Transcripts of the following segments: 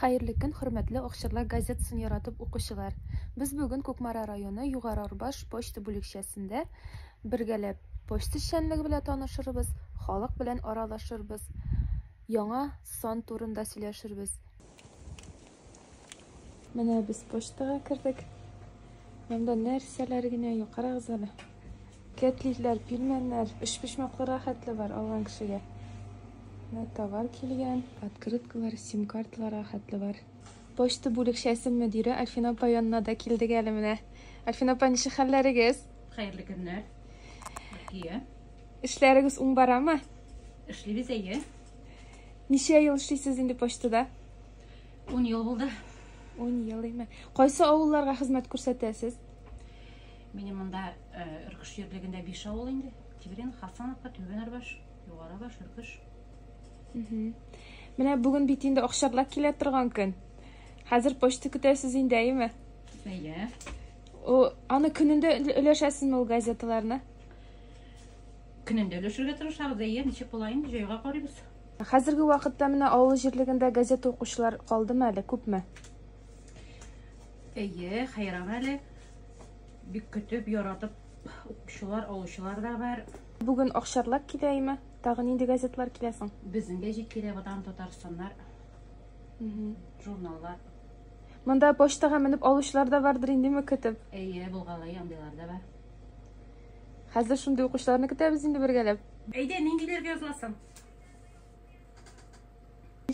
Хәерле көн, хөрмәтле Акчарлак газетасын яратып укучылар! Без бүген Кукмара районы Югары Арбаш почта бүлекчәсендә бергәләп почта эшчәнлеге белән танышырбыз, халык белән аралашырбыз, яңа сан турында сөйләшербез. Менә без почтага кердек. Монда нәрсәләр генә юк, карагыз әле. Кәтлитләр, пилмәннәр, өчпочмаклырга хәтле бар алган кешегә. Менә товар килгән. Открыткалар, сим-карталарга хәтле бар. Почта бүлекчәсе мөдире Альфина апа янына да килдек әле менә. Альфина апа, ничек хәлләрегез? Хәерле көннәр. Рәкия. Эшләрегез уң барамы? Эшлибез әйе. Ничә ел эшлисез инде почтада? 10 ел булды. 10 ел име? Кайсы авылларга хезмәт күрсәтәсез? Минем монда Өркеш җирлегендә биш авыл инде. Тиврин, Хасановка, Түбән Арбаш, Югары Арбаш, Өркеш. Менә бүген бит инде акчарлар килә торган көн. Хәзер почта көтәсез инде, әйеме? Әйе. О, аны көнендә өләшәсезме ул газеталарны? Көнендә өләшергә тырышабыз, әйе, ничек була инде, җайга карыйбыз. Хәзерге вакытта менә авыл җирлегендә газета укучылар калдымы әле, күпме? Әйе, хәйран әле. Бик көтеп, яратып укучылар, алучылар да бар. Бүген Акчарлак килә име? Тагы нинди газетлар килә соң? Безнең гәҗит килә Ватан Татарстаннар. Журналлар. Монда почтага менеп алучылар да бардыр индеме көтеп? Әйе, булгалый андыйлар да бар. Хәзер шундый укучыларны көтәбез инде бергәләп. Әйдә, ниндиләргә языласың?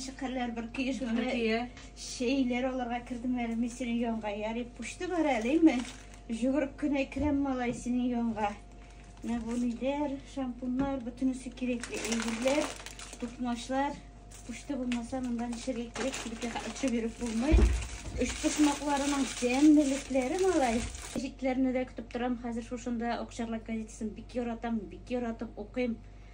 Шикәрләр бер киеш генә шейлер алырга кердем әле мин синең янга ярый пушты бар әлеме жүгереп кенә керәм малай синең янга менә бу ниләр шампуннар бөтенесе кирәкле әйберләр тукмачлар пушты булмаса монда нишәгә кирәк кибеткә очып йөреп булмый өч почмакларының тәммелекләре малай гәзитләрне дә көтеп торам хәзер шушында акчарлак газетасын бик яратам бик яратып укыйм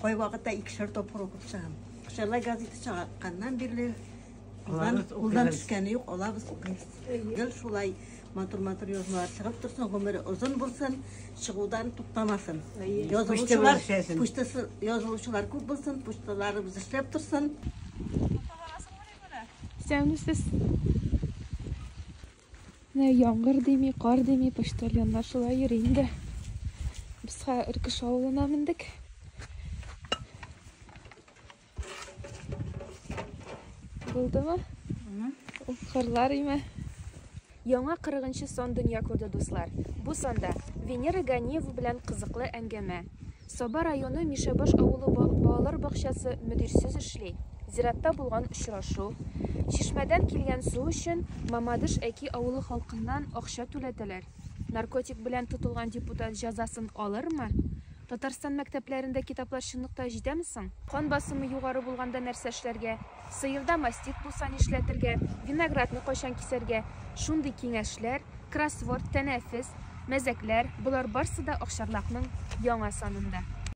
Кайвакытта икешәр тапкыр укып чыгам. Шәллай газеты чыгакканнан бирле кулдан төшкәне юк, алабыз укыйбыз. Гел шулай матур-матур язмалар чыгып торсын, гомере озын булсын, чыгудан туктамасын. Язылучылар, почтасы язылучылар күп булсын, почталарыбыз эшләп торсын. Исәнмесез. Менә яңгыр дими, кар дими, почтальоннар шулай йөри инде. Бисха Өркеш авылына мендек. Булдымы? Ул кырлар име? Яңа 40 сон дөнья күрде, дуслар. Бу санда Венера Ганиева белән кызыклы әңгәмә. Саба районы Мишәбаш авылы балалар бакчасы мөдирсез эшли. Зиратта булган очрашу, чишмәдән килгән су өчен Мамадыш Әки авылы халкыннан акча түләтәләр. Наркотик белән тотылган депутат җәзасын алырмы? Татарстан мәктәпләрендә китаплар чынлыкта җитәме соң? Кан басымы югары булганда нәрсә эшләргә? Сыерда мастит булса нишләтергә, виноградны кайчан кисәргә, шундый киңәшләр, кроссворд, тәнәфес, мәзәкләр, болар барсы да Акчарлакның яңа санында.